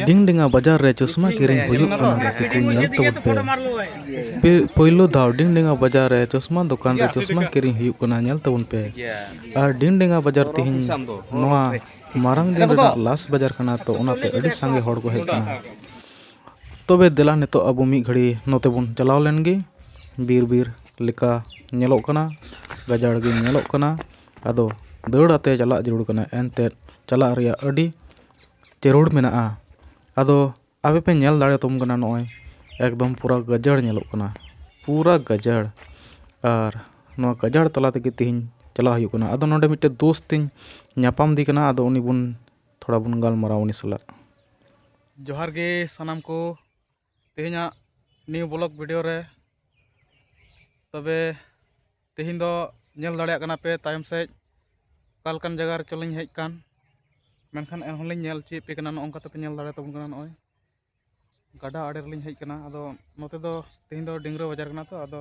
ᱰᱤᱝ ᱰᱤᱝᱟ ᱵᱟᱡᱟᱨ ᱨᱮ ᱪᱚᱥᱢᱟ ᱠᱤᱨᱤᱧ ᱦᱩᱭᱩᱜ ᱠᱟᱱᱟ ᱜᱟᱛᱮ ᱠᱚ ᱧᱮᱞ ᱛᱟᱵᱚᱱ ᱯᱮ ᱯᱳᱭᱞᱳ ᱫᱷᱟᱣ ᱰᱤᱝ ᱰᱤᱝᱟ ᱵᱟᱡᱟᱨ ᱨᱮ ᱪᱚᱥᱢᱟ ᱫᱚᱠᱟᱱ ᱨᱮ ᱪᱚᱥᱢᱟ ᱠᱤᱨᱤᱧ ᱦᱩᱭᱩᱜ ᱠᱟᱱᱟ ᱧᱮᱞ ᱛᱟᱵᱚᱱ ᱯᱮ ᱟᱨ ᱰᱤᱝ ᱰᱤᱝᱟ ᱵᱟᱡᱟᱨ ᱛᱮᱦᱮᱧ ᱱᱚᱣᱟ ᱢᱟᱨᱟᱝ ᱫᱤᱱ ᱨᱮᱱᱟᱜ ᱞᱟᱥ ᱵᱟᱡᱟᱨ ᱠᱟᱱᱟ ᱛᱚ ᱚᱱᱟᱛᱮ ᱟᱹᱰᱤ ᱥᱟᱸᱜᱮ ᱦᱚᱲ ᱠᱚ ᱦᱮᱡ ᱠᱟᱱᱟ ᱛᱚᱵᱮ ᱫᱮᱞᱟ ᱱᱤᱛᱚᱜ ᱟᱵᱚ ᱢᱤᱫ ᱜᱷᱟᱹᱲᱤ ᱱᱚᱛᱮ ᱵᱚᱱ ᱪᱟᱞᱟᱣ ᱞᱮᱱ ᱜᱮ ᱵᱤᱨ ᱵᱤᱨ ᱞᱮᱠᱟ ᱧᱮᱞᱚᱜ ᱠᱟᱱᱟ ᱜᱟᱡᱟᱲ ᱜᱮ ᱧᱮᱞᱚᱜ ᱠᱟᱱᱟ ᱟᱫᱚ ᱫᱟᱹᱲ ᱟᱛᱮᱫ ᱪᱟᱞᱟᱜ ᱡᱟᱹᱨᱩᱲ ᱠᱟᱱᱟ ᱮᱱᱛᱮᱫ ᱪᱟᱞᱟᱜ ᱨᱮᱭᱟᱜ ᱟᱹᱰᱤ ᱡᱟᱹᱨᱩᱲ ᱢᱮᱱᱟᱜᱼᱟ ᱟᱫᱚ ᱟᱯᱮ ᱯᱮ ᱧᱮᱞ ᱫᱟᱲᱮᱭᱟᱛᱟᱵᱚᱱ ᱠᱟᱱᱟ ᱱᱚᱜᱼᱚᱸᱭ ᱮᱠᱫᱚᱢ ᱯᱩᱨᱟᱹ ᱜᱟᱡᱟᱲ ᱧᱮᱞᱚᱜ ᱠᱟᱱᱟ ᱯᱩᱨᱟᱹ ᱜᱟᱡᱟᱲ ᱟᱨ ᱱᱚᱣᱟ ᱜᱟᱡᱟᱲ ᱛᱟᱞᱟ ᱛᱮᱜᱮ ᱛᱮᱦᱮᱧ ᱪᱟᱞᱟᱜ ᱦᱩᱭᱩᱜ ᱠᱟᱱᱟ ᱟᱫᱚ ᱱᱚᱰᱮ ᱢᱤᱫᱴᱮᱡ ᱫᱳᱥᱛ ᱤᱧ ᱧᱟᱯᱟᱢ ᱟᱫᱮ ᱠᱟᱱᱟ ᱟᱫᱚ ᱩᱱᱤ ᱵᱚᱱ ᱛᱷᱚᱲᱟ ᱵᱚᱱ ᱜᱟᱞᱢᱟᱨᱟᱣᱟ ᱩᱱᱤ ᱥᱟᱞᱟᱜ ᱡᱚᱦᱟᱨ ᱜᱮ ᱥᱟᱱᱟᱢ ᱠᱚ ᱛᱮᱦᱮᱧᱟᱜ ᱱᱤᱭᱩ ᱵᱞᱚᱜ ᱵᱷᱤᱰᱤᱭᱳ ᱨᱮ ᱛᱚᱵᱮ ᱛᱮᱦᱮᱧ ᱫᱚ ᱧᱮᱞ ᱫᱟᱲᱮᱭᱟᱜ ᱠᱟᱱᱟ ᱯᱮ ᱛᱟᱭᱚᱢ ᱥᱮᱫ ᱚᱠᱟ ᱞᱮᱠᱟᱱ ᱡᱟᱭᱜᱟ ᱨᱮ ᱪᱚᱞᱤᱧ ᱦᱮᱡ ᱟᱠᱟᱱ ᱢᱮᱱᱠᱷᱟᱱ ᱮᱱᱦᱚᱸ ᱞᱤᱧ ᱧᱮᱞ ᱦᱚᱪᱚᱭᱮᱫ ᱯᱮ ᱠᱟᱱᱟ ᱱᱚᱜᱼᱚ ᱱᱚᱝᱠᱟ ᱛᱮᱯᱮ ᱧᱮᱞ ᱫᱟᱲᱮ ᱛᱟᱵᱚᱱ ᱠᱟᱱᱟ ᱱᱚᱜᱼᱚᱭ ᱜᱟᱰᱟ ᱟᱲᱮ ᱨᱮᱞᱤᱧ ᱦᱮᱡ ᱟᱠᱟᱱᱟ ᱟᱫᱚ ᱱᱚᱛᱮ ᱫᱚ ᱛᱮᱦᱮᱧ ᱫᱚ ᱰᱤᱝᱨᱟᱹ ᱵᱟᱡᱟᱨ ᱠᱟᱱᱟ ᱛᱚ ᱟᱫᱚ